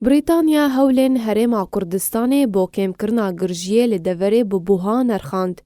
Brîtanya hewlên Herêma Kurdistanê bo kêmkirina girjiyê li deverê bi buha nerxand.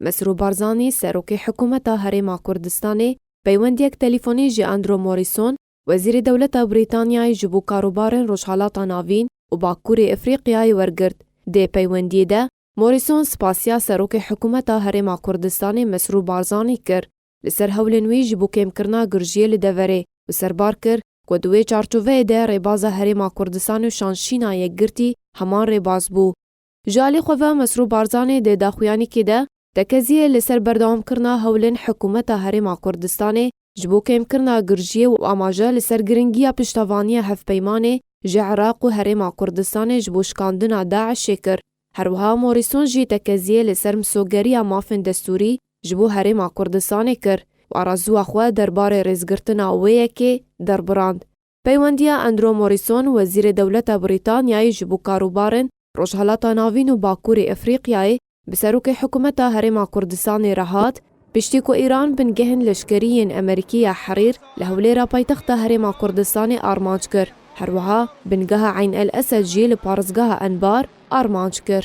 Mesrûr Barzanî, Serokê Hikûmeta Herêma Kurdistanê peywendiyek telîfonî ji Andrew Morrison, Wezîrê Dewleta Brîtanyayê ji bo Karobarên Rojhilata Navîn û Bakurê Efrîqyayê wergirt. Dê peywendiyê de Morrison spasiya Serokê Hikûmeta Herêma Kurdistanê Mesrûr Barzanî kir li ser hewlên wî ji bo kêmkirina girjiyê li deverê û serbar kir ku di wê çarçoveyê de rêbaza Herêma Kurdistanê û Şanşîna Yekgirtî heman rêbaz bû. Ji alî xwe ve Mesrûr Barzanî di daxuyanîkê de tekeziyê li ser berdewamkirina hewlên Hikûmeta Herêma Kurdistanê ji bo kêmkirina girjiyê û amaje li ser giringiya piştevaniya hevpeymanê ji Iraq û Herêma Kurdistanê ji bo şikandina DAIŞ'ê kir. Her wiha Morîson jî tekeziyê li ser misogeriya mafên destûrî ji bo Herêma Kurdistanê kir û arazuya xwe derbarê rêzgirtina wê yekê derbirand. Peywendiya Andrew Morîson, Wezîrê Dewleta Brîtanyayê ji bo Karûbarên Rojhilata Navîn û Bakurê Efrîqyayê bi Serokê Hikûmeta Herêma Kurdistanê re hat, Piştî ku Îran bingehên leşkerî yên Emerîkî ya Herîr li Hewlêra paytexta Herêma Kurdistanê armanc kir, herwiha bingeha Eyn El Esed jî li Parêzgeha Enbar armanc kir.